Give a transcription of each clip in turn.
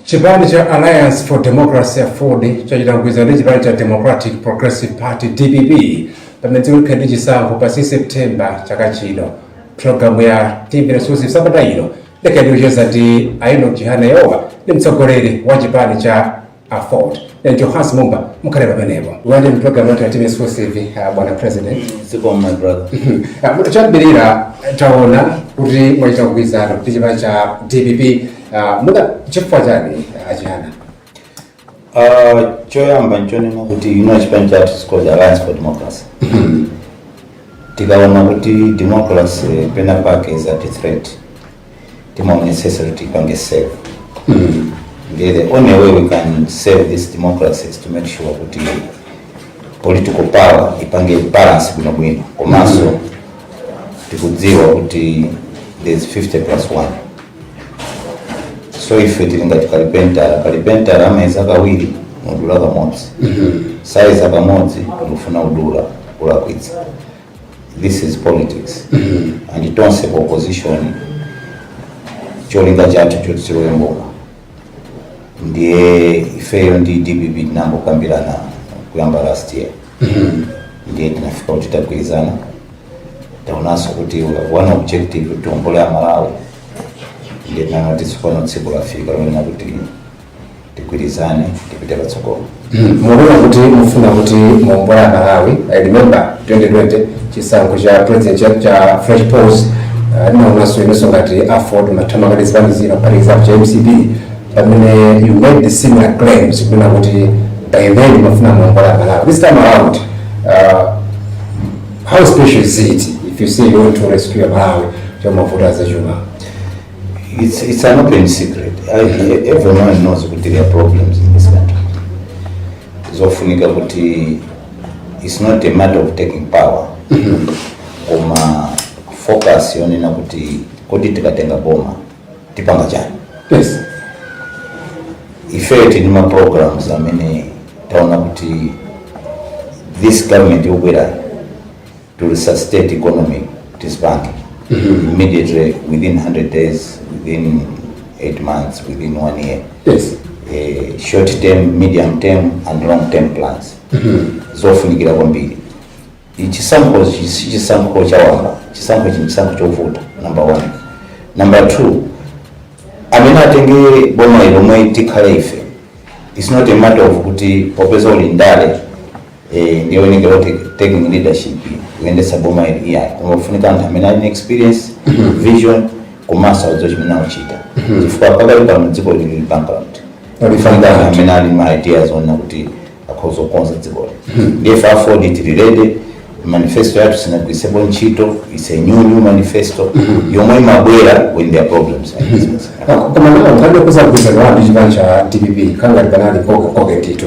Chipani cha Alliance for Democracy Aford chachita mgwirizano ndi chipani cha Democratic Progressive Party DPP pamene dziko likhale ndi chisankho pa 16 September chaka chino. Programu ya TV Exclusive sabata ino ikhale ikucheza ndi a Enock Chihana omwe ndi mtsogoleri wa chipani cha Aford. Ndine Johannes Mumba mukhale pamenepo. Takulandirani mu programu ya TV Exclusive yi uh, bwana president. Zikomo my brother. Choyambirira taona kuti mwachita mgwirizano ndi chipani cha DPP Ah, mwina chifukwa chani a Chihana Uh, choyamba nchonena kuti ife chipani chathu is called alliance for democracy tikaona kuti democracy pena pake is at threat timaonetsetsa kuti ipange save ndiye the only way we can save this democracy is to make sure kuti political power ipange balance bwinobwino komanso tikudziwa kuti there is 50 plus 1 so ife tili ngati kalipentala kalipentala amayeza kawiri nkudula kamodzi sayeza kamodzi nkufuna kudula ulakwitsa this is politics and tonse ku opposition cholinga chathu choti tilowe m'boma ndiye ifeyo ndi dpp tinayamba kukambirana kuyamba last year ndiye tinafika kuti tagwirizana taonanso kuti we have one objective kuti tiombole amalawi ndiye tinanena kuti tsopano tsiku lafika lonena kuti tigwirizane tipite patsogolo Hmm, mukunena kuti mufuna kuti muombole amalawi i remember 2020 chisankho cha president cha, cha fresh polls ndinaonanso uh, inunso ngati aford munagwirizana ndi zipani zina kuphatikizapo cha mcp pamene you made the similar claims kunena kuti by then mumafuna muombole amalawi this time around uh, how special is it if you say you want to rescue amalawi pamavuto azachuma It's, it's an open secret. I, everyone knows kuti there are problems in this country. Zofunika kuti it's not a matter of taking power. Koma focus yonena kuti kodi tikatenga boma tipanga chani. Yes. Ife tili ma programs amene taona kuti this government yobwerayo to resuscitate economy kuti ipange immediately within 100 days within 8 months within one year yes eh, short term medium term and long term plans zofunikira kwambiri chisankho chi- si chisankho chawamba chisankho chino chisankho chovuta number one number two amene atenge boma omwe tikhale ife its not a matter of kuti popeza uli ndale eh, ndiye zikuonekera kuti taking leadership kuyendetsa boma ili iyayi kungofunika anthu amene ali ndi experience vision komanso adziwa chomwe akuchita chifukwa pakali pano dziko lili lili bankrupt lifunika anthu amene ali ma ideas onena kuti akhoza kukonza dzikoli ndiye ife aford tili ready manifesto yathu sinagwiritsidwepo ntchito it's a new new manifesto yomwe ikubwera when there are problems like this. koma ndi mgwirizano wanu ndi chipani cha dpp kukhala ngati panali koke koke ndithu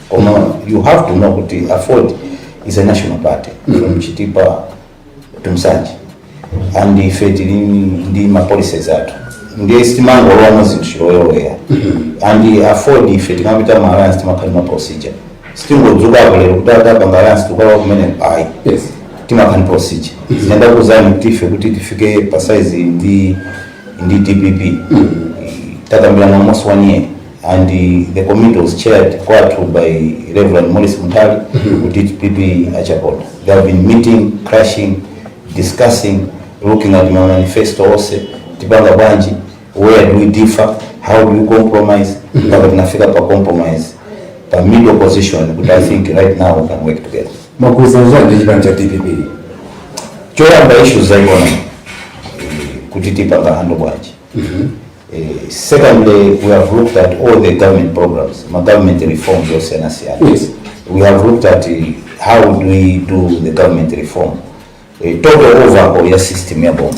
koma you have to know kuti aford is a national party from chitipa to nsanje and ife tili ndi mapolicies athu ndiye sitimangolowamo zinthu chilowelowe and aford ife tikapita ma alliance timakhala ndi ma procedure sitingodzuka lero kuti tapanga alliance tukalowa kumene ayi timakhala ndi procedure nde ndikuuzani ife kuti tifike posaina ndi ndi dpp takambirana almost one year and the committee was chaired kwathu by Reverend Morris Muntali who did PP Achaponda. They have been meeting, crashing, discussing, looking at my manifesto also, tipanga bwanji, where do we differ, how do we compromise, mpaka tunafika pa compromise, pa middle position, but I think right now we can work together. Makuza zanje chipani cha DPP. Choyamba issues za economy, kuti tipanga handle bwanji. Eh, secondly, we have looked at all the government programs, ma government reforms osiyana siyana. Yes. We have looked at eh, how do we do the government reform. Eh, total overhaul ya system ya boma.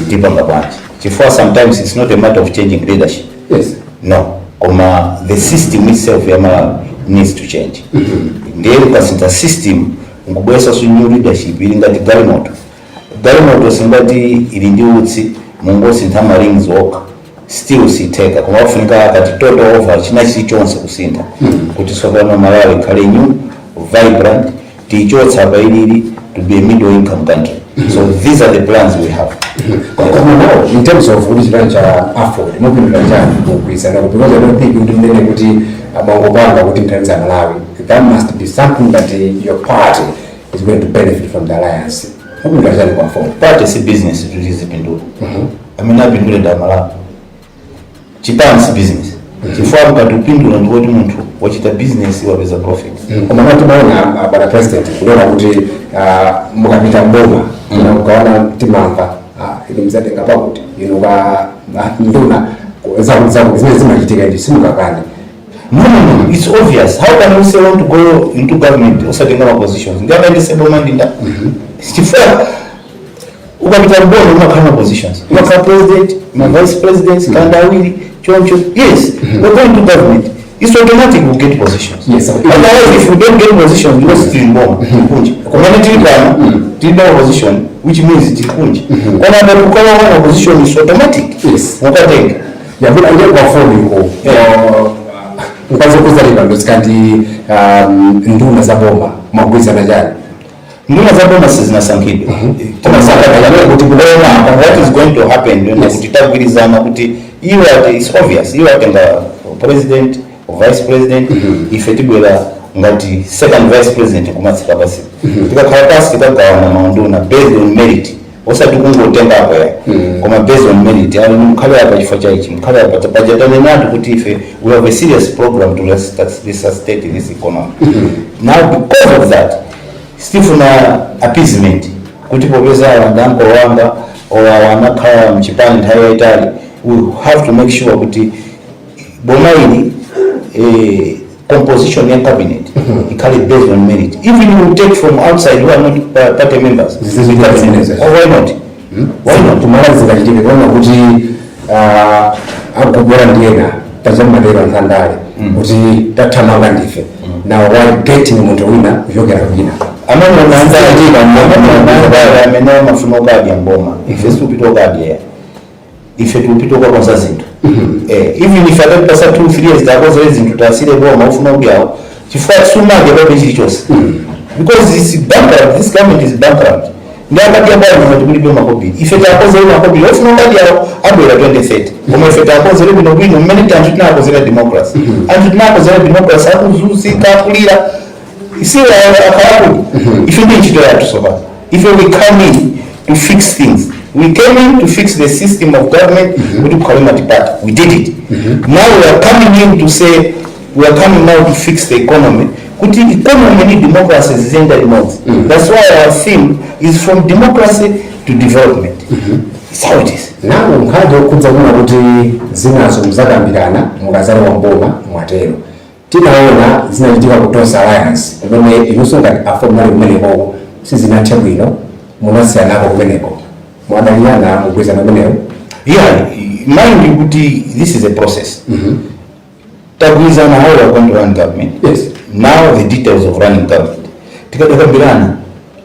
Tipanga bwanji. Chifukwa sometimes it's not a matter of changing leadership. Yes. No. Koma the system itself ya ma needs to change. Ndiye ukasintha system ngubwesa su new leadership ili ngati galimoto. galimoto ngati ili ndi utsi mungosintha ma rings okha still sitheka koma kufunika a total overhaul china chilichonse kusintha kuti tsopano malawi ikhale new vibrant tiichotse pa ilili to be a middle income country so these are the plans we have koma now in terms of kuti chipani cha aford mupindula chani mumgwirizano kupatula kuti kuti mukunena kuti mwangopanga kuti muthandize malawi there must be something that uh, your party is going to benefit from the alliance mupindula chani political party si business kuti izipindula amene apindule ndi amalawi chipani si business chifukwa mukati upindula ndiye kuti munthu wachita business wapeza profit koma timaona ah, bwana president kuona kuti ah, mukapita m'boma mukaona timamva ah, inu mudzatenga pakuti inu ka ah, nduna zakutizakuti zimene zimachitika ndiye simungakane No, no, no, it's obvious. How can we say want to go into government osatenga ma positions? Ndi amene seboma ndinda. Chifukwa ukapita mbona umakhala ma positions. Umakhala president, ma vice president, kanda awiri, choncho. Yes, we're going to government. It's automatic we get positions. Yes, sir. Otherwise, if we don't get positions, we just in bomb. Kunje. Kumene tili pano, tili na position, which means tili kunje. Koma ngati ukala wana position is automatic. Yes. Ukatenga. yagula ndiye pafunika mudziwe kuti zilipo zikati um, nduna za boma mwagwirizana chani nduna za boma sizinasankhidwa koma takambirana kuti kulowa apa what is going to happen ndona kuti tagwirizana kuti iwo ati is obvious iwo atenga president vice president ife tibwera ngati second vice president kumatsika pansi tikakhala pansi tikagawana maunduna based on merit osati kungotengako ayi koma based on merit awa akhale apa chifukwa cha ichi akhale apa paja tanenatu kuti ife we have a serious program to resus- resuscitate this economy now because of that sitifuna appeasement kuti popeza awa ndi ankolo anga or awa akhala mchipani nthawi yayitali we have to make sure kuti boma ili eh, composition ya cabinet ikhale based on merit even you take from outside who are not pa- party members Zizi- You can- zizi- oh, why not why not kumalizika chitike kuona kuti ah, akukolola ndi ena paja amatero andale kuti tathamanga ndife now we're getting munthu wina kuchokera kwina amene unaanzaajika amene unaanzaa amene amafuna ukadya mboma ife sitikupita ukadya ife tikupita ukakonza zinthu eh, even if atatipatsa two three years takonzere zinthu tasiyire boma ufuna kuti awo chifukwa sungapange chilichonse because it's bankrupt this government is bankrupt ndi akati abali mwe tikulibe makobili ife takonzere makobili ofuna ngati awo abwera 2030 koma ife takonzere bwino bwino mmene tanthu tinakonzera democracy anthu tinakonzera democracy akuzunzika akulira isi akarabu ife ndi ntchito yathu tsopano ife we come in to fix things we came in to fix the system of government kuti kukhale multiparty we did it now we are coming in to say we are coming now to fix the economy kuti economy ndi democracy ziziyenda limodzi that's why our theme is from democracy to development It's how it is nanga nkhani yokhudza kunena kuti zinazo muzakambirana mukazalowa mboma mwatero Tinaona zinachitika ku Tonse Alliance kumene inuso ngati AFORD munali kumenekoko sizinathe bwino munasiyanako kumeneko. Mwadalirana mgwirizano umenewu? Yeah, mind you kuti this is a process. Tagwirizana how we are going to run government. Yes. Now the details of running government. Tikadakambirana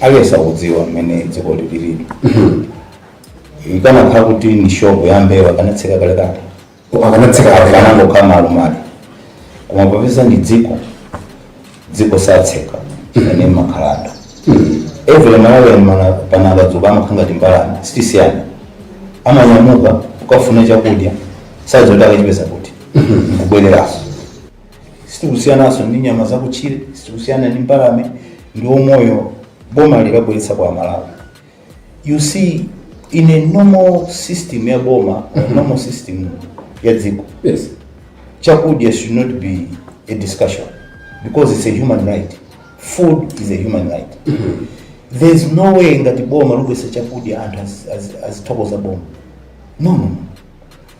aliyense akudziwa mmene dziko lililili ikanakhala kuti ni shopu ya mbewa akanatseka kalekale akanatseka akanangokhala malumali koma popeza ndi dziko dziko satseka ane makhalada every malawian pano akadzuka amakhala ngati mbalame sitisiyana amanyamuka ukafuna chakudya sadziwa kuti akachipeza kuti nkubwereranso sitikusiyananso ndi nyama zakutchire sitikusiyana ndi mbalame ndi umoyo boma likubweretsa kwa amalawi you see in a normal system ya boma a normal system ya dziko yes chakudya should not be a discussion because it's a human right food is a human right there's no way ngati boma lubwesa chakudya anthu az- az- azithokoza boma no no no.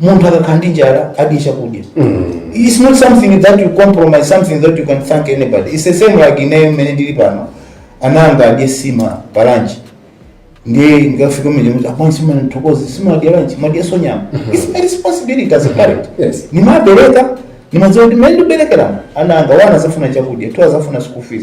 munthu akakhala ndi njala adye chakudya it's not something that you compromise something that you can thank anybody it's the same like ineyo mmene ndili pano ana anga adye nsima pa lunch ndiye ndikafika mmene muti apana sima nthokozi sima adya lunch mwadyanso nyama it's my responsibility as a parent Yes. nimabereka nimadziwa kuti mmene ndikuberekeramo ana angawa azafuna chakudya two azafuna school fees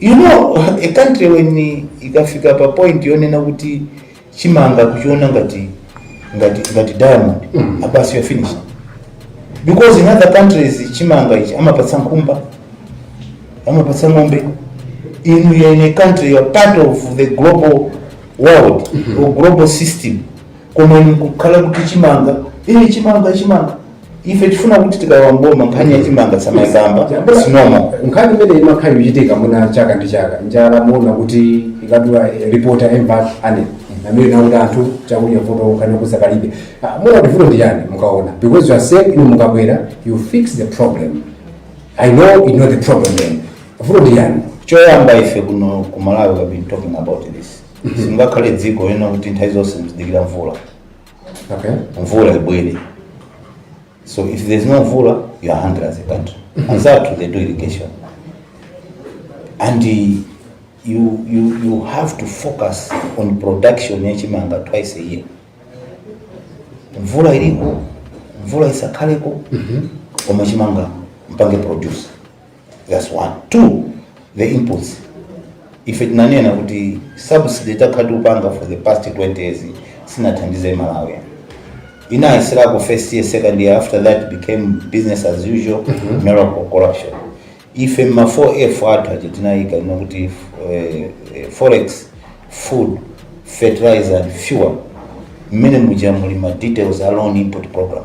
you know a country when ikafika pa point yonena kuti chimanga kuchiona ngati ngati ngati diamond basi you're finished because in other countries chimanga ichi amapatsa nkhumba amapatsa ng'ombe in, in a country, you are part of the global world or global system koma inu kukhala kuti chimanga ine chimanga chimanga ife tifuna kuti tikalowa m'boma nkhani ya chimanga sitimayikamba chifukwa nkhani imene imakhala ikuchitika muna chaka ndi chaka njala muona kuti ikadula ripota embat ane amene nakuti anthu chakudya vuto nkhani yokonza palibe Ah, muona kuti vuto ndi yani mukaona because you are saying inu mukabwera you fix the problem i know you know the problem then vuto ndi yani choyamba ife kuno ku malawi we have been talking about this simungakhale dziko lonena kuti nthawi zonse muzidikira mvula Okay. mvula ibwere so if there's no mvula you are hungry as a country anzathu they do irrigation and uh, you, you, you have to focus on production ya chimanga twice a year mvula iliko mvula isakhaleko koma chimanga mpange produce That's one. Two, the inputs. Ife tinanena kuti subsidy takhala tikupanga for the past 20 years sinathandize Malawi. Inayisilako first year, second year, after that became business as usual, miracle corruption. Ife ma 4F athu aja tinayika ino kuti eh, eh, forex, food, fertilizer and fuel. Mmene muja muli ma details a loan input program.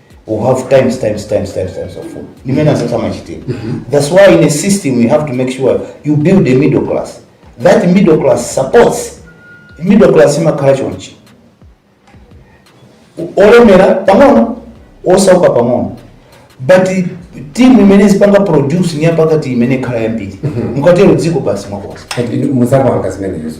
we have times times times times times of food zimene zisatamachitika that's why in a system you have to make sure you build a middle class that middle class supports middle class imakhala chonchi olemera pang'ono osauka pang'ono but team imene zipanga produce ni yapakati imene ikhala yambiri mukatero dziko basi mwakonza muzapanga zimenezo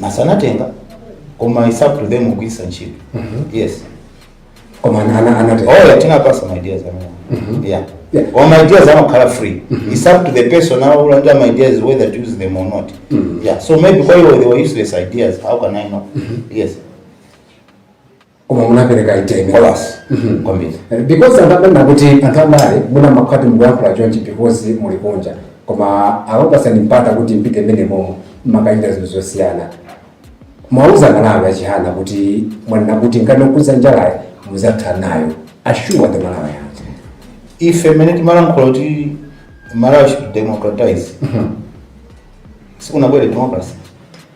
masa anatenga koma it's up to them kugwiritsa ntchito yes koma ana- ana- anatenga oya tinapasa ma ideas amene yeah Yeah. or my ideas amakhala free it's up to the person now who under my ideas whether to use them or not yeah so maybe kwa hiyo they were useless ideas how can i know yes koma munapereka iteme kolasi Mhm. kwambiri because anthu amanena kuti anthu andale mwina mumakhala kuti mukuyankhula chonchi because muli kunja koma akakupatsani mpata kuti mpite mmene momo mumakachita zinthu zosiyana muwauza a Malawi chiyani kuti mwanena kuti nkhani yokhudza njalayi muzatha nayo assure the malawians ife mmene timalankhula kuti malawi should democratize sikunabwere democracy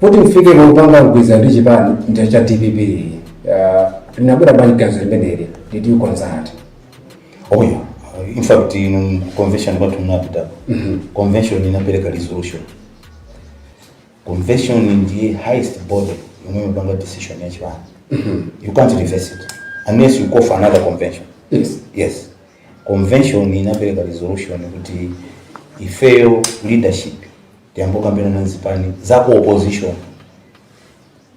Kuti mfike popanga mgwirizano ndi chipani cha dpp ah, linabwera bwanji ganizo limeneli did you consult Oh yeah. In fact, ku convention imeneyo tinapita convention inapeleka resolution. Convention ndiye highest body yomwe imapanga decision ya chipani. You can't reverse it unless you call for another convention. yes Yes. Convention inapeleka resolution kuti ifeyo leadership Tiyambe kukambilana nzipani za ku opposition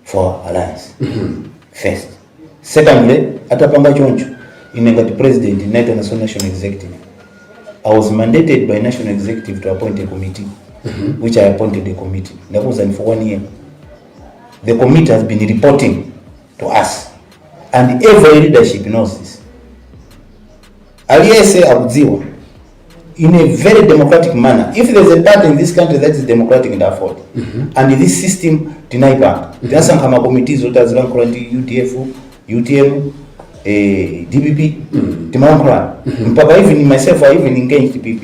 for alliance first secondly atapanga choncho ine ngati president ndinaitananso national executive i was mandated by national executive to appoint a committee which i appointed a committee ndakuwuzani for one year the committee has been reporting to us and every leadership knows this aliyense akudziwa in a very democratic manner if there's a party in this country that is democratic ndi afford and this system tinaipanga tinasankha makomiti oti azilankhula ndi udf utm eh, dpp timalankhulana mpaka even myself i even engaged dpp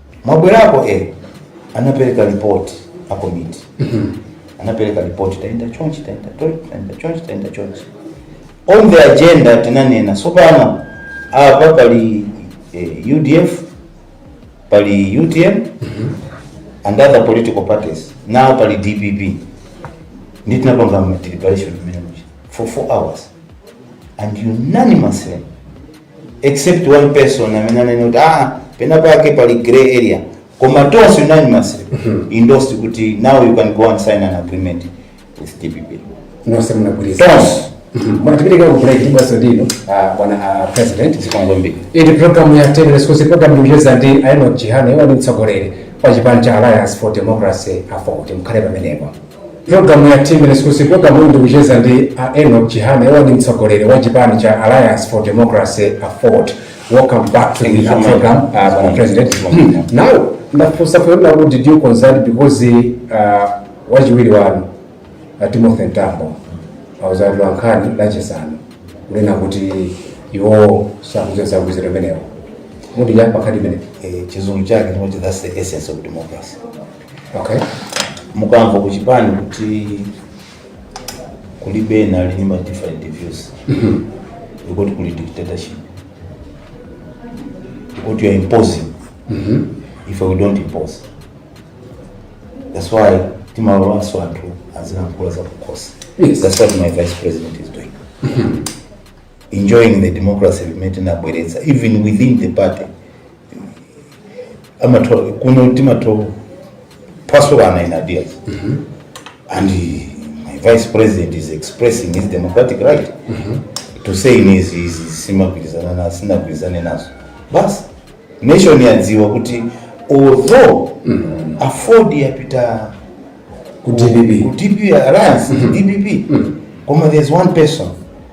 mwabwerako eh anapereka report a committee anapereka report taenda chonchi taenda taenda chonchi taenda chonchi on the agenda tinanena tsopano apa pali eh, udf pali utm and other political parties now pali dpp ndi tinapanga deliberation imene muja for four hours and unanimously except one person amene ananena kuti ah pena pake pali grey area koma tonse unanimously endorsed kuti now you can go and sign an agreement with dpp nonse munagwirizana tonse bwana tipitike ku break basi ndinu ah, bwana ah, president zikomo kwambiri iyi programu ya Times exclusive programu ndikucheza ndi a enoch chihana iwo ndi mtsogoleri wa chipani cha alliance for democracy aford mukhale pamenepo Programu ya Times exclusive programu iyi ndikucheza ndi a Enoch Chihana iwo ndi mtsogoleri wa chipani cha Alliance for Democracy Afford. Welcome back to the our program uh, Mr President. Now ndafunsa kunena who did you consult because uh, wachiwiri wanu uh, Timothy Mtambo auza atolankhani Lachisanu kunena kuti iwo sakudziwa za zimenezo. Mutipo bwanji pamenepo. Eh, chizungu chake chimati that's the essence of democracy okay mukamva kuchipani kuti kulibe ena ali ndi ma different views ndiye kuti kuli dictatorship ndiye kuti you are imposing ife we don't impose that's why timalolanso anthu azilankhula za kukhosi Yes. that's what my vice president is doing enjoying the democracy imene tinabweretsa even within the party amatho kuno timatha kuphwasulana in ideas and my vice president is expressing his democratic right to say in his, his, his simagwirizana nazo sinagwirizane nazo basi nation yadziwa kuti although afford yapita ku dpp ku dpp alliance dpp koma there's one person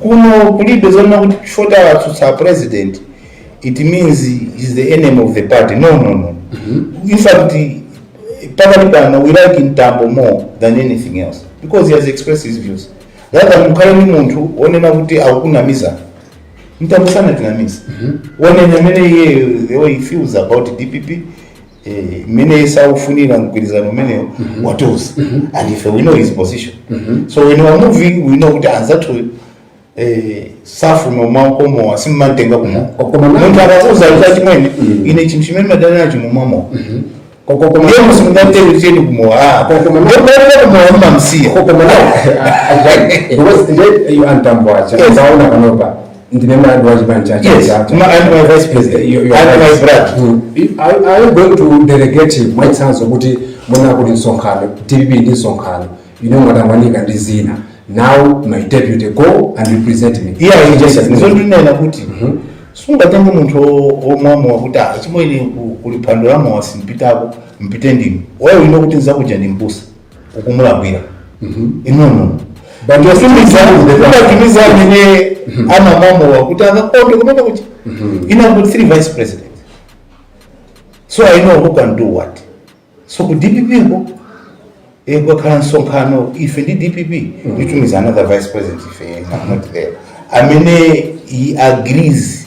Kuno kulibe zonena kuti chifukwa tawatsutsa president it means he's the enemy of the party. No, no, no. In fact, pakati pano we like Mtambo more than anything else because he has expressed his views. Rather mukhale ni munthu onena kuti akukunamiza. Mtambo sanatinamiza. Wanena mmene iye the way he feels about DPP Eh, mmene sakufunira mgwirizano umenewo watiuza and if we know his position so when we are moving we know kuti anzathu eh, safuna umakomowa simmamutenga kumowa Koma na- munthu akakuuza kuti achimwene ine chinthu chimene ndimadana nacho mumamwa Koko- koma- ndiye simungamutengere kumowa ah, Koma- koma- ndikuenda kumowa mmamsiya Koko- koma na- Ajani, because ndiye iyo antambo acha Yes. ndaona panopa ndine mwini wa chipani cha Yes, Chadza. ma- I'm my vice president. You- you are I'm my right. brother. Mm. Are- are you going to delegate mwachitsanzo kuti mwina kuli msonkhano wa dpp ndi msonkhano inu mwatangwanika ndi zina now my deputy go and represent me iye ayichesa ndizo ndinena kuti sungatenge munthu wo- womwamowa kuti achimwene ku- kuli phando lamowa simpitako mupite ndinu why you know kuti nzakuja ndi mbusa ukumulakwira i know ndimatumiza amene amamwa mowa kuti akakondwe kumene kuti i have got three vice president so i know who can do what so ku dpp ko eh, kukakhala msonkhano ife ndi dpp nditumiza another vice president ife I'm not there amene he agrees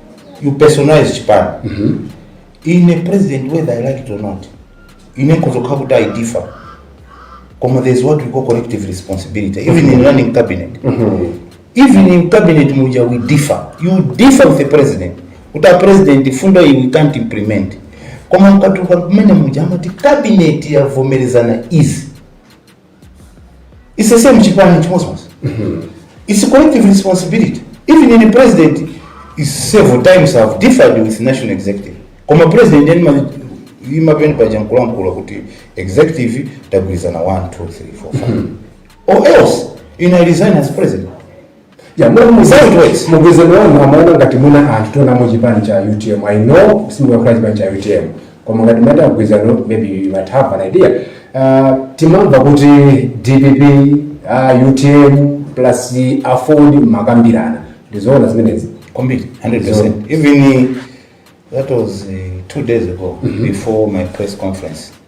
you personalize chipani ine president whether i like it or not ine nkuzokha kuti i differ koma there's what we call collective responsibility even in running cabinet even in cabinet muja we differ you differ with the president kuti a president fundo iyi we can't implement koma mukatuka kumene muja amati cabinet yavomerezana izi It's the same chipani chimozimozi. It's a collective responsibility. Even in the president, is several times I've differed with national executive. Koma president then ma- imapeni paja nkulankhula kuti executive tagwirizana 1 2 3 4 5 or else ina resign as president Ya, mwe muzantu wezi, mgwirizano wanu, amaona ngati muna anthu tionamo chipani cha UTM. I know, simuli kwa chipani cha UTM. Koma ngati muli pa mgwirizano, maybe you might have an idea. Uh, timamva kuti DPP, uh, UTM, plus aford mmakambirana. Ndizoona zimenezi. Kwambiri, 100%. Even uh, that was uh, two days ago before my press conference.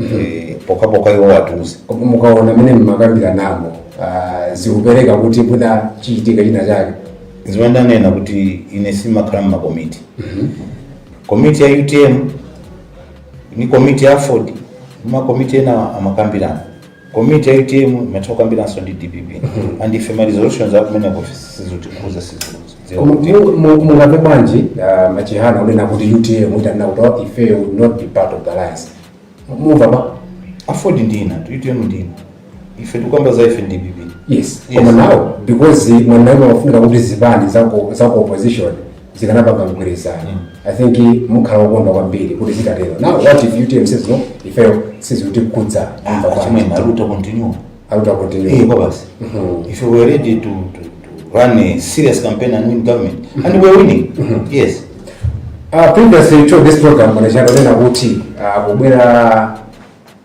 Eh, pokhapokha iwo atatiuza koma mukaona mene mmakambirana nawo ah, zikupereka kuti mwina chichitike china chake zimene ndanena kuti ine sindimakhala mmakomiti komiti ya utm ndi komiti ya aford makomiti ena amakambirana Komiti ya utm imatha kukambiranso ndi dpp and ife ma resolutions akumeneko sizikutikhudza sitidziwa Mu- kuti mu- mu- mungamve bwanji ah, mwachitsanzo onena kuti utm itanena kuti "Oh, ife we'll not be part of the alliance mumva kwa aford ndi a utm ndi ife tikukamba za ife ndi dpp yes Yes. koma now because mwanena mumafuna kuti zipani zaku zaku opposition zikanapanga mgwirizano i think mukhala okondwa kwambiri kuti zitatero now what if utm says no ifeyo sizikutikhudza imvani kwa Achimwene, are we to continue? a utm Eh, continue kwa basi. If we were ready to, to, to run a serious campaign and win government, and we're winning, yes. Uh, previous to this program munachita kunena kuti uh, kubwera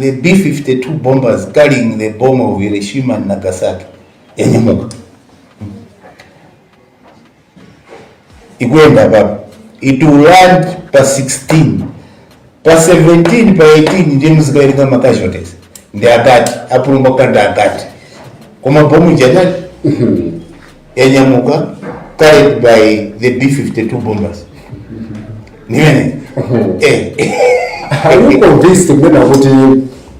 The B-52 bombers carrying the bomb of Hiroshima and Nagasaki yanyamuka ikuyenda apapa it will land pa 16 pa 17 pa 18 ndiye muzikawerenga ma casualties ndi angati apulumuka ndi angati koma bombalo lija yanyamuka created by the b52 bombers nimene eh Are you convinced kunena kuti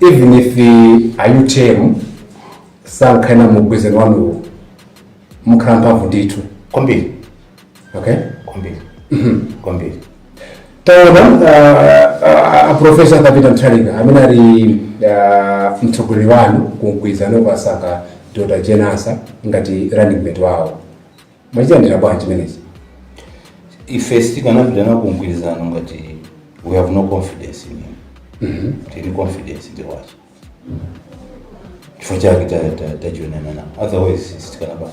even if uh, a UTM sankhana mugwirizano wanuwo mukhala mphamvu ndithu kwambiri okay kwambiri kwambiri taona aprofesa Peter Mutharika amene ali ah, mtsogoleri wanu ku mgwirizano asankha dr Jane Ansah ngati running mate wawo mwachilandira bwanji chimenechi ife sitikanapita nawo kumgwirizano ngati we have no confidence in him tili confidence ndi iwo chifukwa chake ta- ta- tajoinana nawo otherwise sitikanapanga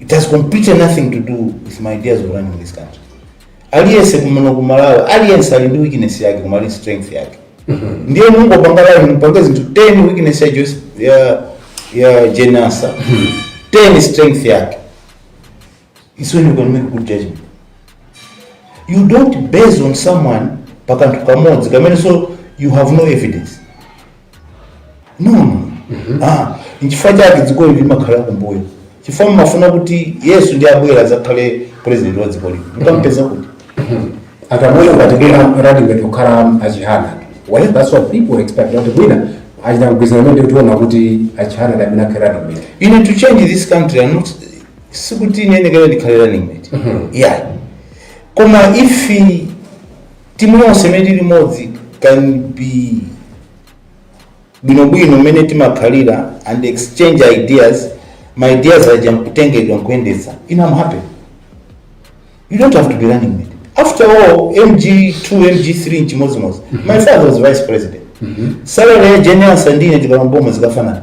It has completely nothing to do with my ideas of running this country. Aliyense kuno kumalawi, aliyense ali ndi weakness yake koma ali strength yake. Ndiye mungopanga line mpange zinthu 10 weakness ya Joyce ya ya Jane Ansah. 10 strength yake. It's when you can make good judgment. You don't base on someone pakanthu kamodzi kamenenso you have no evidence. no ah nchifukwa chake dzikoli limakhala kumbuyo chifukwa mmafuna kuti yesu ndiye abwere adzakhale president wa dziko lino mukampeza kuti akamwena ukatekera rati ngati kukhala achihana well that's what people expect kuti mwina achita kugwirizana ndi kutiona kuti achihana ndi amene akhale running mate mmene you need to change this country and not sikuti ine ndiyenera ndikhale running mate yeah koma if Timu yonse imene tili limodzi can be bwino bwino mmene timakhalira and exchange ideas, ma ideas aja nkutengedwa nkuyendetsa ine am happy. You don't have to be running mate. After all, MG2, MG3 nchimodzimodzi. My father was vice president. Salary ya Jane Ansah ndine tikalowa m'boma zikafanana.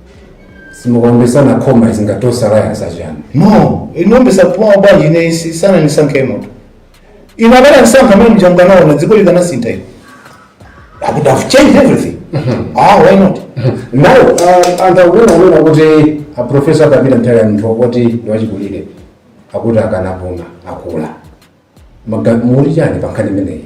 simukaombesana koma izi ngati osalayasa chani no ndiombana nawo bwanji ine si- sanandisankhemo ine akanandisankha mene mjanga nawo na dziko likanasintha ine i would have changed everything ah why not now uh, anthu alipo amene akuti aprofesa Peter Mutharika ndi munthu wakuti ndiwachikulire akuti akanapuma akula Maga- mukuti chani pankhani imeneyi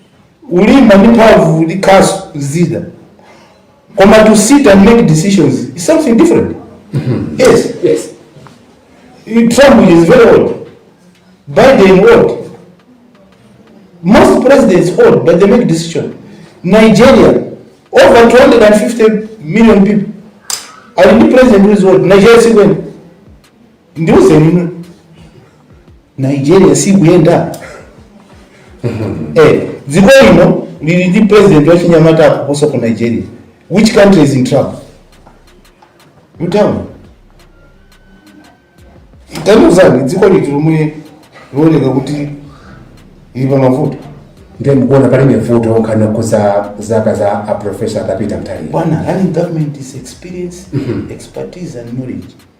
ulimba ndi mphamvu ndi khasu zida koma to sit and make decisions is something different yes yes trump is very old biden old most presidents old but they make decision nigeria over 250 million people ali ndi president who is old nigeria sikwene ndiuzeni inu nigeria sikuyenda eh, dziko lino lili ndi president wachinyamata kuposa ku nigeria which country is in trouble tandiuzani dziko liti lomwe likuoneka kuti lili pa mavuto ndiye mukuona palibe vuto nkhani yokhudza zaka za a profesa Peter Mutharika bwana running government is experience expertise and knowledge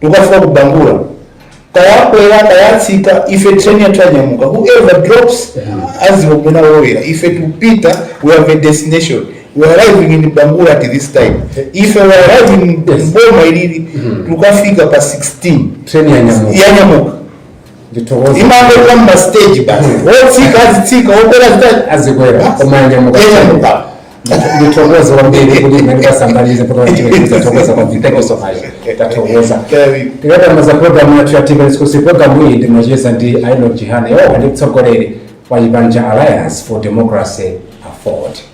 tikafika ku bangula tayakwera tayatsika ife train yathu yanyamuka whoever drops aziona kumene walowera ife tikupita we have a destination we are arriving in bangula at this time ife we are arriving in boma ilili tikafika pa 16 Train ya nyamuka. yanyamuka Ndithokoza. imaima pa stage basi wotsika azitsika wokwera zita Azikwera. Koma yanyamuka. yanyamuka ndithokoze kwambiri kuti imene tasambalize kuti wachipembedzo thokoza kwambiri thank you so much tathokoza Very- tikamamaliza programu yathu ya times exclusive programu iyi ndimacheza ndi a enock chihana omwe ndi mtsogoleri wa chipani cha alliance for democracy afford